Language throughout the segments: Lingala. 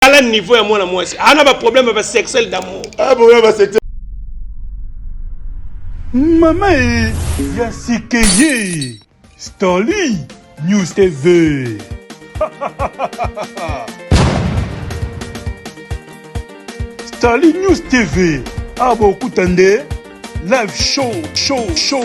tala niveau ya mwana mwasi ana ba problème ya ba sexuel d'amour ah problème ba sexuel mama e ya sikeye stoli news tv stoli news tv abokuta nde live show show show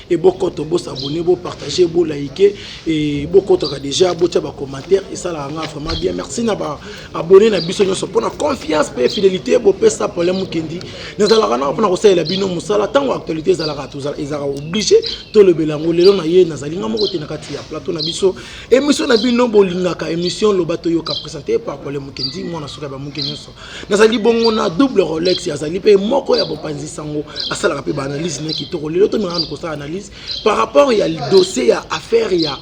et bo koto bo s'abonner bo partager bo liker et bo kotaka déjà bo tia ba commentaires et ça la nga vraiment bien merci na ba abonner na biso nyoso pona confiance pe fidélité bo pesa problème mukendi na zala kana pona ko salela bino musala tango actualité zala ka tuzala ezaka obligé to le belango lelo na ye na zali nga moko tena kati ya plateau na biso émission na bino bo lingaka émission lobato yo ka présenter par problème mukendi mwana soka ba mukendi nyoso nazali bongo na double rolex azali mpe moko ya bopanzi sango asalaka mpe baanalyse na kitoko lelo tomingana kosala analyse par rapport ya dossier ya affaire ya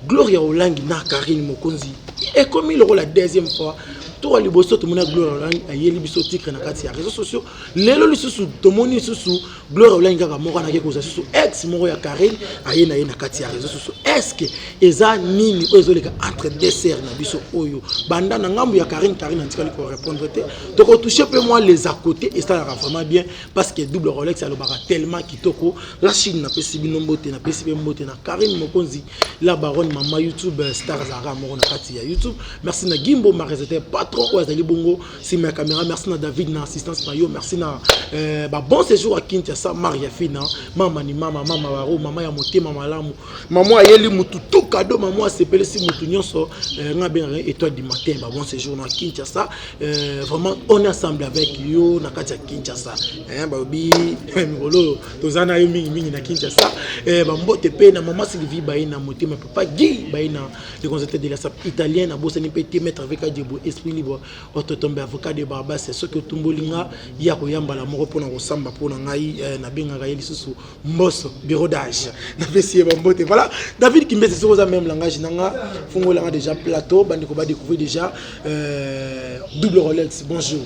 gloria olangi na karine mokonzi ekomi lokola deuxième fois toka liboso tomona gloria olangi ayeli biso titre na kati ya réseau sociaux lelo lisusu tomoni lisusu gloria olangi kaka moko anake kozwa susu ex moko ya carine aye na ye na kati ya réseau susu estce eza nini oyo ezoleka entre deux sœur na biso oyo banda na ngambo ya carine carine antikali korépondre te tokotouche mpe mwa les à côté esalaka vraiment bien parce que double rolex alobaka tellement kitoko la chine napesi bino mbote napesi mpe mbote na carine mokonzi la baronne mama youtube star zara moko na kati ya youtube merci na gimbo maresete patron oyo azali bongo sima ya camera merci na david na assistance na yo merci na euh, babon séjour ya kintiasa maria fina mama ni mama mama baro mama ya motema malamu mama ayeli motu to kado mama asepelisi motu nyonso euh, nga bengaka étoile du matin babon séjour na kintiasa euh, vraiment on est ensemble avec yo na kati ya kintiasa balobi mikolo oyo toza na yo mingimingi na kintiasa bambote mpe na mama sylvie baye na motema papa gi baye na le consultant de la SAP italien na bosani mpe te maître avec Adjebo esprit libre ototombe avocat de Barbas soki otumboli nga ya koya mbala moko mpo na kosamba mpo na ngai eh, nabengaka ye lisusu mboso bureau d'age napesi ye bambote voilà David Kimbese soki oza même langage na nga fungolanga déjà plateau bandeko ba découvrir déjà euh, double Rolex bonjour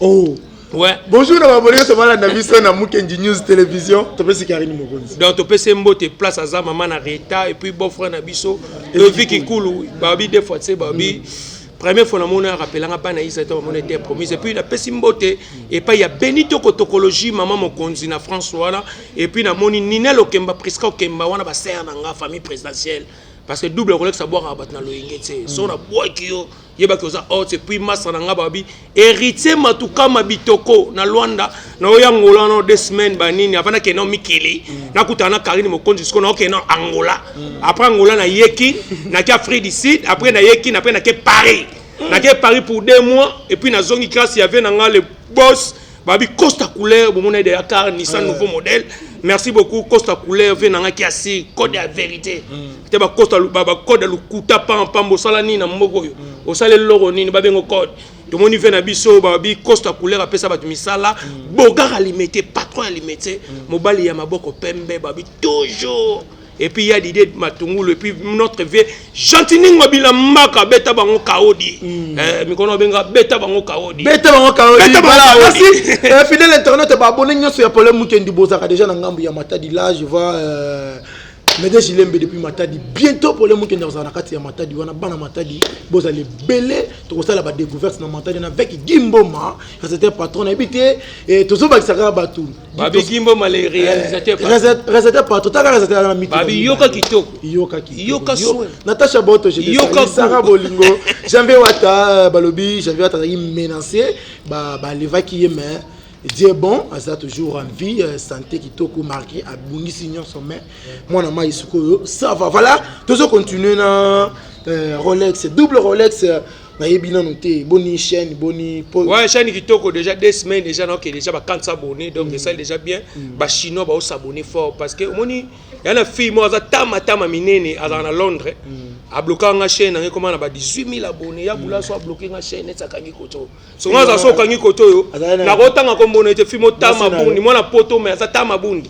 oh Ouais. Bonjour na baboli nyonso balanda biso na Mukendi News Television. Topesi Karine Mokonzi. Donc topesi mbote place aza mama na Rita et puis beau frère na biso Levi Kikulu babi deux fois tse babi mm. première fois na mona ya rappelanga bana isa to mona était promise et puis na pesi mbote et pas ya Benito Kotokologie maman Mokonzi na France wana et puis na moni Nina Lokemba Prisca Okemba wana ba sœur na nga famille présidentielle parce que double kolekisa bwaka bato na loyenge tse mm. so na bwaki yo yeba ke oza haute puis masa na nga babi héritier matukama bitoko na luanda na oyo angola no deux semaines banini avant nakende nao mikili mm. nakutana na karine mokonzi sikoyo naokende nao angola mm. après angola nayeki nake afrique du sud après nayeki après nake paris mm. nake paris pour deux mois et puis nazongi classe yave na nga le boss babi costa couleur bomona de car nissan euh. nouveau modèle merci beaucoup costa couleur vie nanga kiasi code ya vérité mm. te bacosta bacode ya lokuta pampamba osala nini na mboka oyo mm. osala eloko nini babengo code tomoni vie na biso babi costa couleur apesa bato misala mm. bogar alimete patron alimete mobali ya maboko pembe babi toujours Et puis il y a l'idée de Matungulu et puis notre vieux Gentini Ngobila Mbaka beta bango kaodi. Mm. Eh mikono benga beta bango kaodi. Beta bango kaodi. Beta bango kaodi. Merci. euh, fidèle internet ba abonné nyoso ya Paulin Mukendi bozaka déjà na ngambu ya Matadi là je vois euh, Mede Jilembe depuis Matadi bientôt Paulin Mukendi azala na kati ya Matadi wana bana Matadi bozala ebele tokosala ba découverte na Matadi na avec Gimboma c'était patron na ebite et tozobakisaka bato babi kimbo male eh, réalisateur réalisateur patro taka réalisateur na miti babi yoka kitoko yoka kitoko yoka soin Natacha Boto je yoka saka bolingo Janvier Wata balobi Janvier Wata azalaki menacé ba ba levaki ye mais Dieu bon aza toujours en vie euh, santé kitoko marqué abungisi nyonso mais mwana mai sikoyo ça va voilà tozo continuer na euh, Rolex double Rolex euh, nayebi nanu te boni chaîne boni po ouais chaîne kitoko déjà deux semaines déjà donc déjà ba 400 abonnés donc mm. ça déjà bien mm. ba chinois ba s'abonner fort parce que omoni ya na fille moi aza tama tama minene aza na Londres mm. a bloquer nga chaîne ngai comment na ba 18000 abonnés ya bula so a bloquer nga chaîne ça kangi koto so nga za so kangi koto yo na ko tanga ko mbona ete fille mo tama bundi mwana poto mais aza tama bundi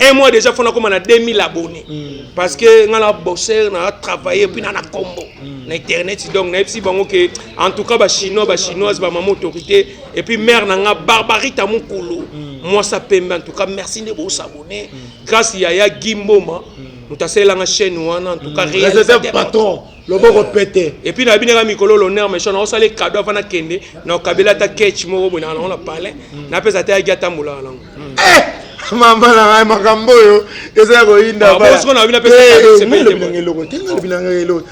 un mois déjà fona koma na 2000 abonné mm. parce que nga na bosser na travailler puis na na combo mm. na internet donc na yebisi bango que en tout cas ba chinois ba chinoise ba maman autorité et puis mère na nga barbarita mukulu mm. moi ça pembe en tout cas merci de vous abonner mm. grâce yaya gimboma mm. mutasalela nga chaîne wana en tout cas mm. réalisateur patron loboko pete epuis na binaka mikolo l'honneur méchant na osala ekado avana kende na okabela ata ketch moko boye naka nango na palais mm. napesa ata yaki atambolaka nango mm. eh! mama na ngai makambo oyo eza ya koyindaeloko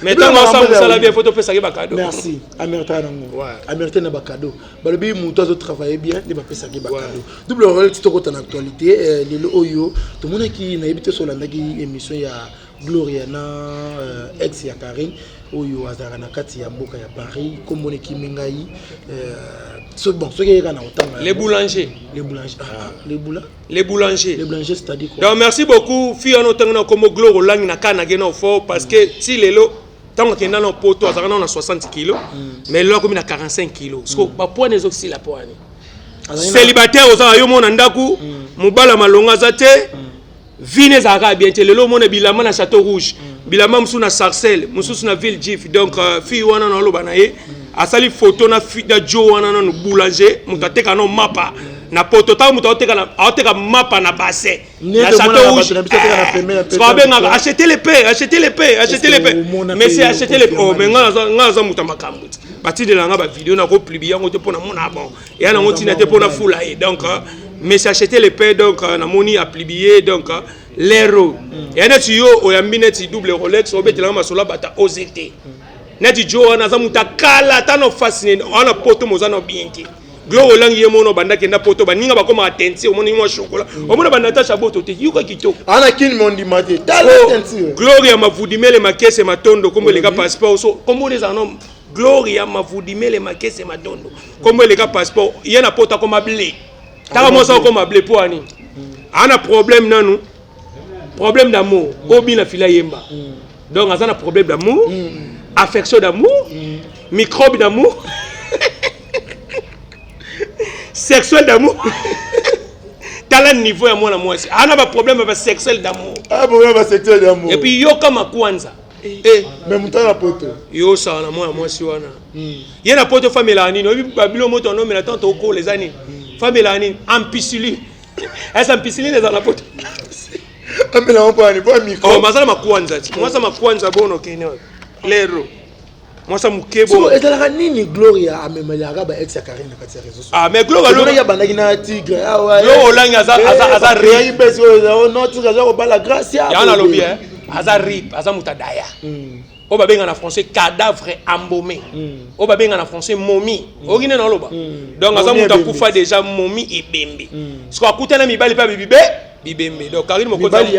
tetangoasamusala bien fo topesaki bakado merci amerita nango amerita na bakado balobi moto azo travaille bien nde bapesaki bakado double orel ti tokota na actualité eh, lelo oyo tomonaki nayebi te solandaki émission ya Gloria na euh, ex ya Karine oyo azalaka na kati ya mboka ya Paris kombo nekimi ngai euh, so, bon soki eyeka na otanga les boulanger les boulanger ah, ah, les boula les boulanger les boulanger c'est à dire quoi donc merci beaucoup fille wana otangi na kombo Gloria olangi na kana ge na fort parce que mm. ti lelo ntango akenda na poto azalaka nao na 60 kilo mm. mais lelo akomi na 45 kilo siko mm. bapoine ezokisila poine célibataire ozala yo mona ndako mobala malonga aza te vie ne ezalaka bien te lelo omona bilamba na chateau rouge mm. bilamba mosusu na sarcelle mosusu na ville jif donc euh, fille wana na oloba na ye mm. asali photo na fida jo wana nanu boulanger moto ateka no mapa na poto ntango moto aoteka mapa na bassin na chateau rouge abengaka eh, achete le pe achete le pe achete le pe mais c'est achete le pe oh, mais ngai naza moto ya makambo ti batindela ngai bavideo nakopublie yango te mpo namona bon ya nango ntina te mpona fula ye donc euh, mais sachete le paix donc euh, namoni aplibiye donc euh, lero mm. ya neti yo oyambi neti double rolex obetelanga masolo bata oze te mm. neti jo wana aza moto akala ata na ofasi nene wana poto moza na bien te glo olangi ye mono banda kenda poto baninga bakoma atenti omoni mwa shokola mm. omona banatasha boto te yoka kitoko ana kini mondima te gloria mavudimele makese matondo kombo eleka passeport so kombo ezala no Gloria Mavudimele Makese Matondo. Kombo eleka passeport, ye na pota koma ble. Taka mwasi akoma ble po ani. Ana problème nanu. Problème d'amour. Obi na fila yemba. Donc aza na problème d'amour, affection d'amour, microbe d'amour. Sexuel d'amour. tala niveau ya mwana mwasi ana baproblème ya basexuel d'amour ah, et puis yoka makwanza Eh, mais mutala na poto yo osala na mwana mwasi wana hmm. ye na poto famelaka nini oyebi babilo moto anomela ntango tokola eza nini hmm. famelaka nini ampisiline esa ampisiline eza na poto amela mpo ani mpo amikro oh, mazala makwanza ti mwasa makwanza bono kene lero mwasa moke bo ezalaka nini gloria amemelaka ba ex ya carine na kati ya réseau ah mais gloria lo ya bandaki na tigre ah ouais yo olangi aza eh, aza aza ri besi yo non tigre aza kobala gracia ya na lobi hein aza rip aza muta daya hmm. oyo babenga na français cadavre embaume hmm. oyo babenga na français momi hmm. oyoki nde naloba donc aza mutu akufa déjà momi ebembe siko akutana mibali mpe bibibe bibembe donc carine mokoti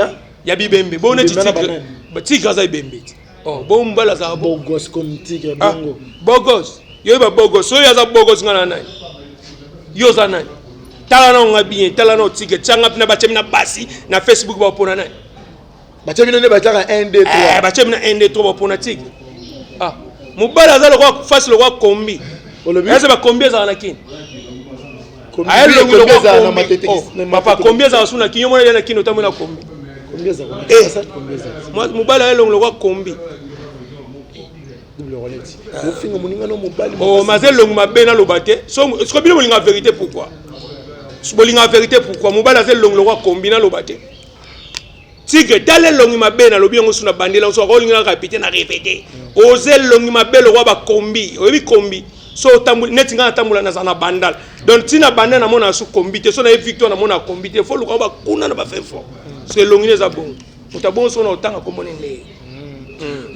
ya bibembe bo neti tigre tigre aza ebembe ti oh bo mbala za bogos comme tigre ah, bongo bogos yo ba bogos oyo aza bogos ngana nani yo za nani tala na nga bien tala na tigre tsanga pina bachemi na basi na facebook ba pona nani bachemi nene bataka 1 2 3 eh bachemi na 1 2 3 ba pona tigre ah mobala aza lokwa face lokwa kombi olobi eza ba kombi ezala na kini Aye longu Combien lokola ezala na kombi. matete- Oh, na Papa, matete- kombi ezala suna kinyo mwana na kino tamwe na kombi. Combien eza kuna? Eh. Eza combien eza? Mwa- Mobali aye longu lokola kombi. Double roulette. Ofinga moninga no mobali. Oh, makasi. maze longu mabe na loba te. So siko bino bolinga verite pourquoi? Bolinga verite pourquoi? Mobali aze longu lokola kombi na loba te. Tigre tala elongi mabe nalobi yango su na bandela oso akolingi na kapite na repete oza elongi mabe lokola bakombi oyebi kombi so otamboli neti ngai natambola naza na bandal donc ntina bandal namona na su kombi te so naye victoire namona kombi te fo luka bakuna na bafefo so elongi na eza bongo moto abongo soko na otanga kombo ne ndeye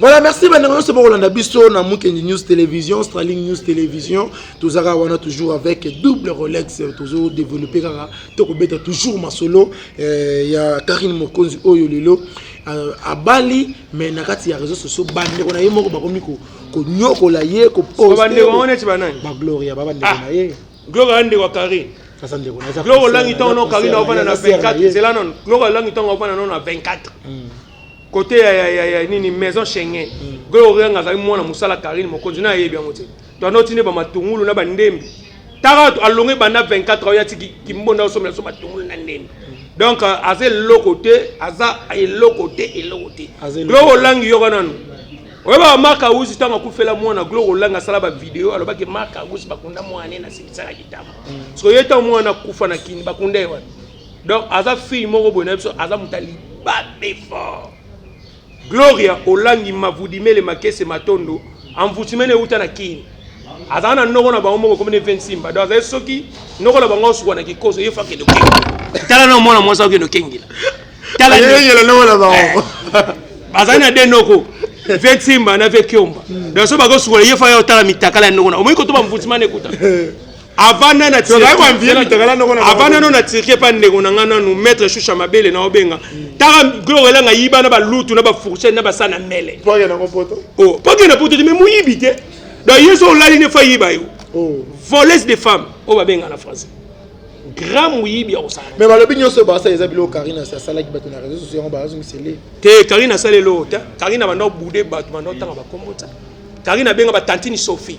Voilà, merci bandeko nyonso bokolanda biso na Mukendi News Television, Straling News Television. Tozaka wana toujours avec double Rolex, tozo développer kaka tokobeta toujours masolo eh, ya Karine Mokonzi oyo lelo euh, abali mais na kati ya réseaux sociaux bandeko na ye moko bakomi ko konyokola ye ko poster. Bandeko wana neti banani? Ba Gloria ba bandeko na ye. Gloria ndeko wa Karine. Asa ndeko na. Gloria langi tango na Karine ofana na 24, c'est là non. Gloria langi tango ofana na 24. Mm. Côté ya ya ya, ya nini maison Schengen. Mm. Gloria nga azali mwana musala Karine Mokonzi na yebi yango te. To anoti ne ba matungulu na ba ndembi. Tara to alonge banda 24 ans yati kimbonda osomela so matungulu na ndembi. Mm. Donc euh, aza eloko te, aza eloko te, eloko te. Gloria olangi yoka nanu. oyebaka mark ausi ntango akufela mwana gloire olanga asala bavideo alobaki mark ausi bakunda mwana ye na silisaka kitama mm. soki ye ntango mwana akufa na kini bakunda ye wana donc aza fille moko boye na biso aza moto ya libabe fort gloria olangi mavudimele makese matondo envoutiment euta na kini azala na noko na bango moko komi ne ve nsimba donc azali soki noko na bango osukwa na kikoso ye fakende okengela tala na mwana mwasi akende okengela talayengela noko na bango eh. bazali na de noko ve nsimba na ve kiomba donc so bakosukwa ye fa ya otala mitakala ya noko na omoi kotoba mvutimana ekuta avanda na avanda no na turquie pa ndeko na ngai nanu maître shusha mabele na obenga taka gloire elanga yiba na balutu na bafourchette na basana mele po akenda na poto te me moyibi te donc ye so olali ne fa yiba yo oh. voleuse de femme oyo babenga na français grand moyibi ya kosala me balobi nyonso basala eza biloko karine asi asalaki bato na réseau sociaux yango bazongisele te karine asala eloko te karine abanda obude bato banda otanga bakombo te karine abenga batantini sophie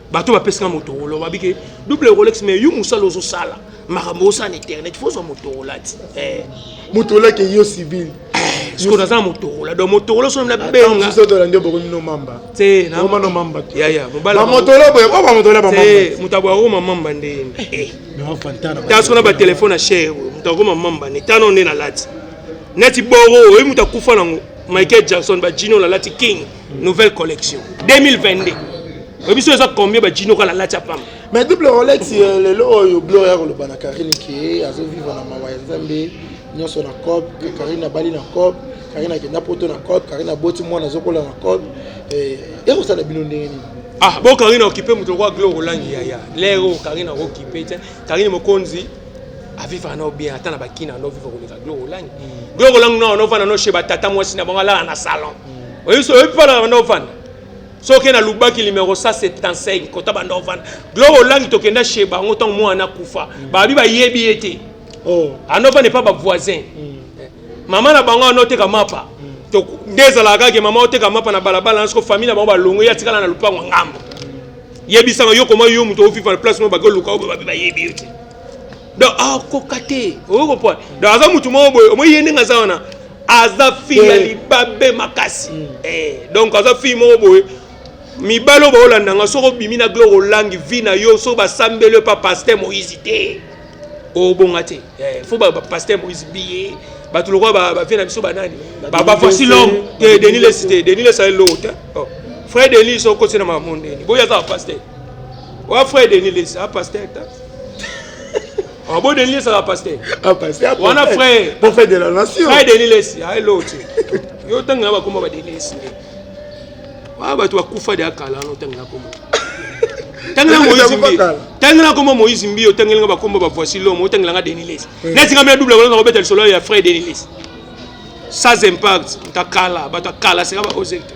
bato bapesi nga motorola babi ke double rolex mais yo mosala ozosala makambo osala na internet fo ozwa motorola ti eh. motorola ke yo civil eh, siko naza na motorola donc motorola soki nabengaola nde bokomi no mamba te naoma no mamba yaya mobalamotola boye oyo bamotola bamamate moto aboya okoma mamba nde eh, ta soko na batelefone ya chere oyo moto akoma mamba nde tano nde nalati neti boro oyo moto akufa nango michael jackson bajino nalati king nouvelle collection 2022 oyebi so eza combien bajino kala lati ya pamba mais double rolex euh, lelo oyo blor ya koloba na karine ke azovivre na mawa ya nzambe nyonso na cop karine abali na cop karine akenda poto na cop karine aboti mwana azokola na cop eh, ekosala bino ndenge nini ah bo karine okipe moto lokola glor olangi yaya lero karine akokipe te karine mokonzi avivaka nao bien ata na bakina ando viva koleka biloko olangi biloko mm. olangi nao novanda no chez batata mwasi na bango alala na salon mm. oyebi oyebi mpo alala banda ovanda soki na lubaki limero 175 kota banda ovanda biloko olangi tokenda chez bango ntango mwana akufa mm. babi bayebi ye te oh. ando ovanda epa bavoisin eh, mama na bango ando oteka mapa nde ezalaka kaka mama oteka mapa na balabala na soko famille na bango balongo ye atikala na lopango ngambo yebisa nga yo koma yo muto ofifa na place mo bako luka obo babe bayebi yo te donc akoka ah, te oyo kopwa donc aza mutu moko boye omoyi ye ndenge aza wana aza fille ya eh. libabe makasi mm. eh, donc aza fille moko boye mibali oyo baolanda nga soki obimi na gloire olangi vi na yo soki basambeli yo pa paster moïse te obonga te eh, fo bapaster moise biye bato lokola bavie na biso banani bafasi lome te deni lesi te deni lesi aye loko te oh. frère deni so okoti na mamo ndeni boya kaka paster oya frère deni lesi apaster ta ah, bo deni lesi aka paster ah, wana frère frère deni lesi aye loko te yo ntango na bakoma badeni lesi nde Ah, bato bakufa deya kala wana otangela kombo tangela moïse mbi tangela kombo moïse mbi otangeli nga bakombo ba voici l'homme otangela nga denilis eh. neti nga mia double kolaka kobeta lisolo ya frais denilis sans impact ta kala bato ya kala seka baoze te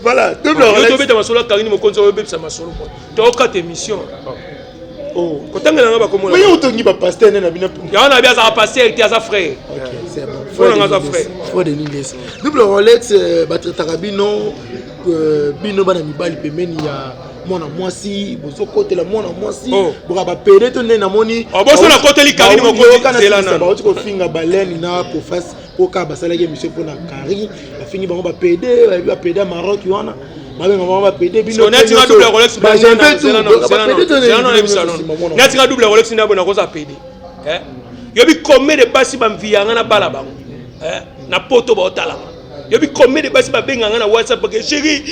voilà tobeta masolo ya kangini mokonzi oyobebisa masolo tokata émission Oh, kotangela nga bakombo na yo otongi ba pasteur nene na bino yango na bi azala pasteur te aza frère frère nga aza frère frère de nilese double rolex euh, batretaka bino euh, bino bana mibali pembeni ya mwana mwasi bozokotela mwana mwasi oh. boka bapede to nde namoni oboso oh, nakoteli kalini mokotizelana bauti kofinga baleni na pofasi koka basalaki emission mpona carine bafingi bango bapede bayebi bapede ya maroc wana babenga bango bapede binonatika double rolex nda bona koza pede eh? yobi combien de basi bamviyanga na bala bango eh? na poto baotalanga yobi combien de basi babenganga na whatsapp ke chéri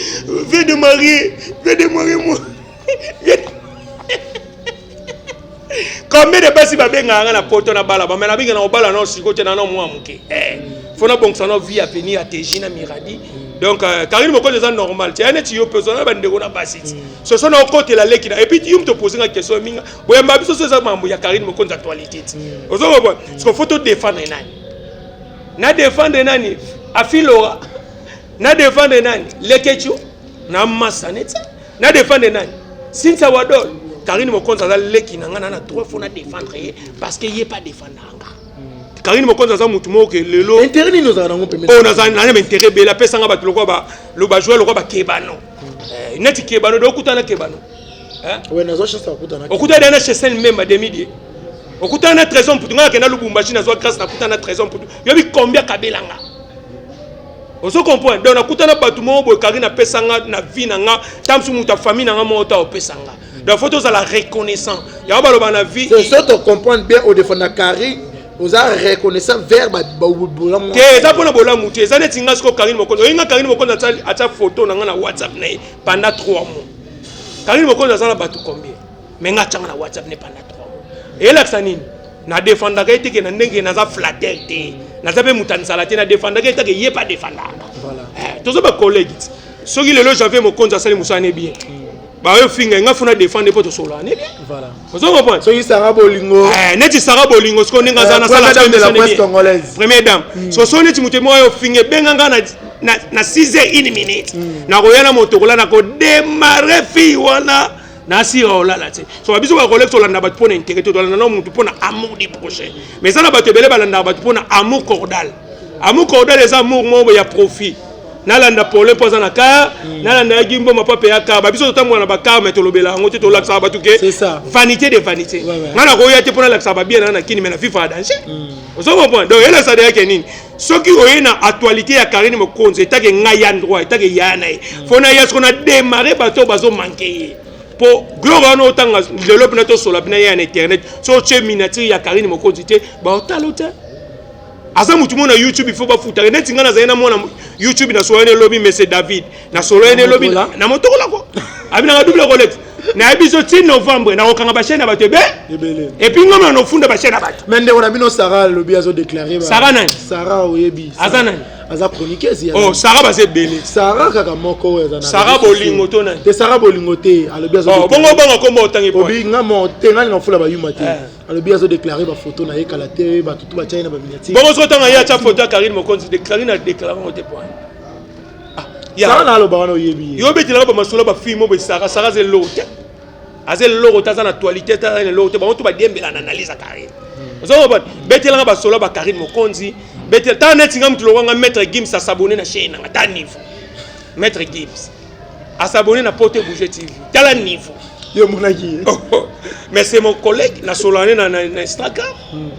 vie de marie vie de marie moi combien de basi babengaka nga na poto na bala bamela abenge na kobala nao siko te nano mwa moke eh, fo nabongisa nao vie avenir ya teji na miradi donc euh, karine mokonzi eza normal te ya neti yo mpe ozala na bandeko na basi ti soso na okotela leki na epuis yo moto opoze nga question mingi boyamba biso so eza mambo ya karine mokonzi actualité ti ozokobona siko fo todefendre nani na defendre nani afilora na defendre nani lekechu na masa neti Na defendre nani? Cynthia Wadol. Karine Mokonza aza leki na nga na na droit faut na defendre ye parce que ye pas defendre nga. Hmm. Karine Mokonza aza mutu moko ke lelo. Intérêt nini ozala nango pembeni? Oh naza na na intérêt bela pesa nga batu lokola ba lo ba jouer lokola ba kebano. Hmm. Eh, neti kebano do kutana kebano. Hein? Ouais, nazo chance ya kutana. Okutana na chez Sen Memba demi die. okutana na trésor mputu ngai akenda lubumbashi nazwa grâce nakutana na trésor mputu yobi combien kabelanga ozo comprendre donc nakuta na bato moko boye karine apesa nga na vie na nga ta mosusu moto ya famille na nga moko ta opesa nga donc faut tozala reconnaissant yango baloba na vie so tocomprendre bien odefanda karine oza reconnaissant vers bolamu te eza mpona bolamu te eza neti nga siko karine mokonzi oyebi nga karine mokonzi atya foto na nga na whatsapp na ye pendant 3 mois karine mokonzi aza na bato combien me nga atyanga na whatsapp ne panda 3 mois elakisa nini na defendaka eteke na ndenge naza flatter te naza mpe moto anisala te na defendaka etake ye mpe adefendaka eh, toza bacollege ti soki lelo janvier mokonzi asali mosala ne bien hmm. bayo finga nga funa defendre mpo tosolola ne bien ozo comprendre soki sara bolingo eh, neti sara bolingo sikoyo ndenge aza eh, nasala première dame hmm. so so neti moto moko yo finga ebenga nga na na 6 heures une minute hmm. nakoya na moto kola nakodemarre fille wana na si olala te so biso ba collègues tolanda bato mpo na intérêt te tolanda na motu mpo na amour du prochain mais eza na bato ebele balandaka bato mpo na amour cordal amour cordal eza amour moko ya profit nalanda pole mpo aza na kar hmm. nalanda ya gimbo mapa mpe ya kar babiso totambola na bakar mai tolobela yango te tolakisaka bato ke vanité de vanité ngai nakoya te mpo nalakisaka babia naa na kini mai na fifa ya danger hmm. ozo comprendre donc elesa deyake nini soki oye na actualité ya Karine Mokonzi etake ngai ya droit etake yaya na ye mpo na ya soko na démarre bato bazomanke ye mpo gloire wana otanga lelo mpena tosola mpena ye ya na internet so otye miniature ya Karine Mokonzi te baotalo te aza motu moko na youtube ifo bafutaka neti ngai nazali na mwana youtube nasolani elobi mese david nasololi ne lobi na motokola ko abinaka double collecte nayebi biso ti novembre nakokanga bachaine ya bato ebe epuis ngomela nofunda bachaine ya bato me ndeko na bino sara alobi azodeklare sara nani sara oyebi aza nani aza chroniqueuse oh sara baza ebele sara kaka moko oyo aza sara bolingo to nani te sara bolingo te alobi azo oh, bongo obanga kombo otangi po obi nga mo te nga na fula ba yuma te eh. alobi azo déclarer ba photo na ye kala te ba tutu ba china ba miniature bongo sotanga ye acha photo ya Karine Mokonzi de Karine a déclarer au départ sara na aloba wana oyebi ye yo obetelaka bamasolo bafilme oyo besaka sara aza eloko te aza eloko te aza na actualité te aza na eloko te bango to badiembela na analyse ya carine hmm. oza kobana betelanga basolo ya bacarine mokonzi betela tala neti nga motu lokwanga maître gims asabone na chaine nanga ta niveau maître gims asabone na pote bouge tv tala niveau yo omonaki ye oh, oh. mais c'est mon collègue nasolane na instagram hmm.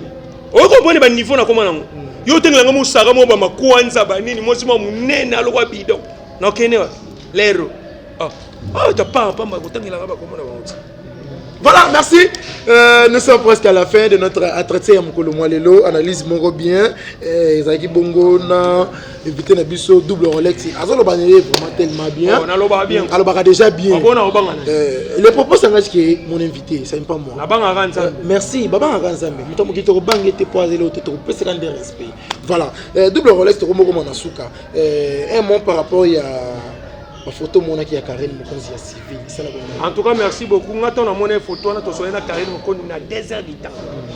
oyo comprendre ba niveau na koma nango yo otenge nango mosaka moko bamakwanza banini mwasi mwa monene alokwa bidon nakende wapi lero ah. ah, tapaa pamba kotangelaka bakoma na bango ti Voilà, merci. Euh, nous sommes presque à la fin de notre entretien à Mokolo Mwalelo. Analyse Moro bien. Euh, Zaki Bongo, na invité na biso double rolex azoloba na ye vraiment tellement bien oh, naloba bien alobaka déjà bien abona ah, obanga euh, le propos sangaki ke mon invité ça pas moi nabangaka nzambe euh, merci babangaka nzambe moto moki tokobanga ete po azeli ote tokopesaka nde respect voilà euh, double rolex tokomokoma na suka un mot par rapport ya bafoto omonaki ya karine mokonzi ya civil en tout cas merci beaucoup nga ntango namona foto wana tosolai na karine mokonzi na 2 heures du temps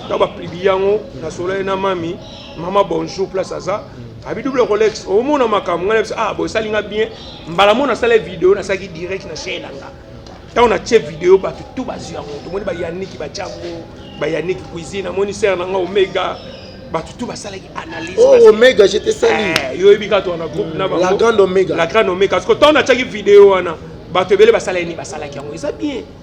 ntango baplibi yango nasolai na mami mama bonjour place aza abi double rolex omona makambo ngai nayebisa ah bosali nga bien mbala moko nasala video nasalaki direct na chaine na nga ntango natye video bato tu bazwi yango tomoni bayaniki batya yango bayaniki cuisine amoni sere na nga omega bato tu basalaki analyse oh, omega jete sali eh, yo oyebi kaka wana groupe na la grande omega la grande omega parce que ntango natyaki video wana bato ebele basalaki nini basalaki yango eza bien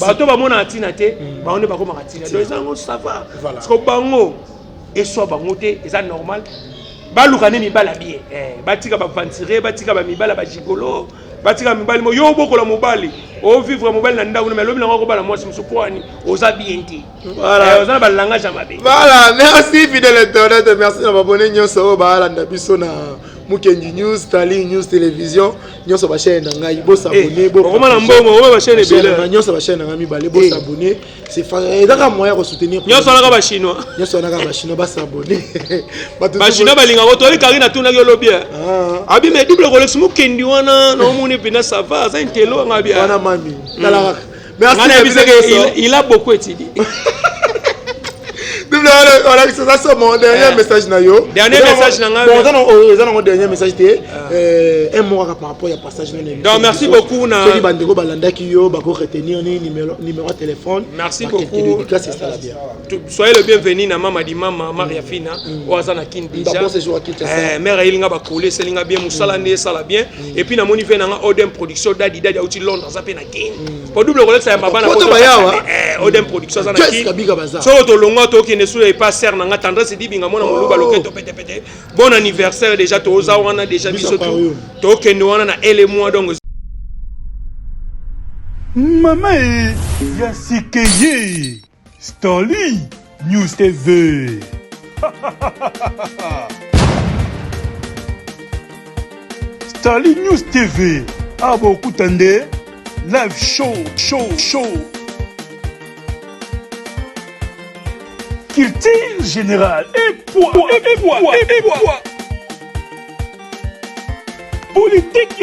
bato oyo bamonaka ntina te hmm. bango nde bakomaka ntina donc eza yango sava parceke bango eswa bango te eza normal baluka nde mibala bie eh, batika baventire batika bamibala bagigolo batika mibali mo yo obokola mobali ovivre mobali na ndako na me alobi nango akobala mwasi mosusu mpo ani oza bien te Voilà. Eh, oza na ba langage ya mabe. Voilà, merci fidèle internet, merci na babone nyonso oyo balanda biso na Mukendi News, Starling News Télévision, nyonso ba chaîne na ngai, bo s'abonner, eh, bo. Okoma na mbongo, okoma ba chaîne ebele. Na nyonso ba chaîne na ngai mibale, bo eh. s'abonner. C'est fa ezaka moyen ko soutenir. Nyonso na ba chinois. Nyonso na ba chinois ba s'abonner. Ba chinois ba linga ko toli Karina tuna yo lobi. Ah. Abi me double Rolex Mukendi wana na omoni pena ça va, ça intelo ngabi. Wana mami. Tala Merci na bino nyonso. Il a beaucoup étudié. olakisa eza so mon dernier message na yo dernier message na ngai eza nango dernier message te un mot kaka par rapport ya passage na nini donc merci beaucoup na soki bandeko balandaki yo bako retenir ni numéro numéro ya téléphone merci beaucoup dédicace esala bien soyez le bienvenu na mama di mama maria fina oyo aza na kin déjà mère ayelinga bakole eselinga bien mosala nde esala bien et puis namoni ve nanga odem production dadi dadi auti londres aza mpe na po double kolekisa ya mabana poto bayawa eh, odem production aza na kin soko tolongwa tokende sula epa ser na nga tendresse dibinga mwana moluba oh. loketo petepete bon anniversaire déjà toza wana déjà biso tokende wana na ele mois donc mama e ya sikeye Starly News TV. Starly News TV. Abo ah, kutande live show show show. Culture générale et poids et poids et poids. Politique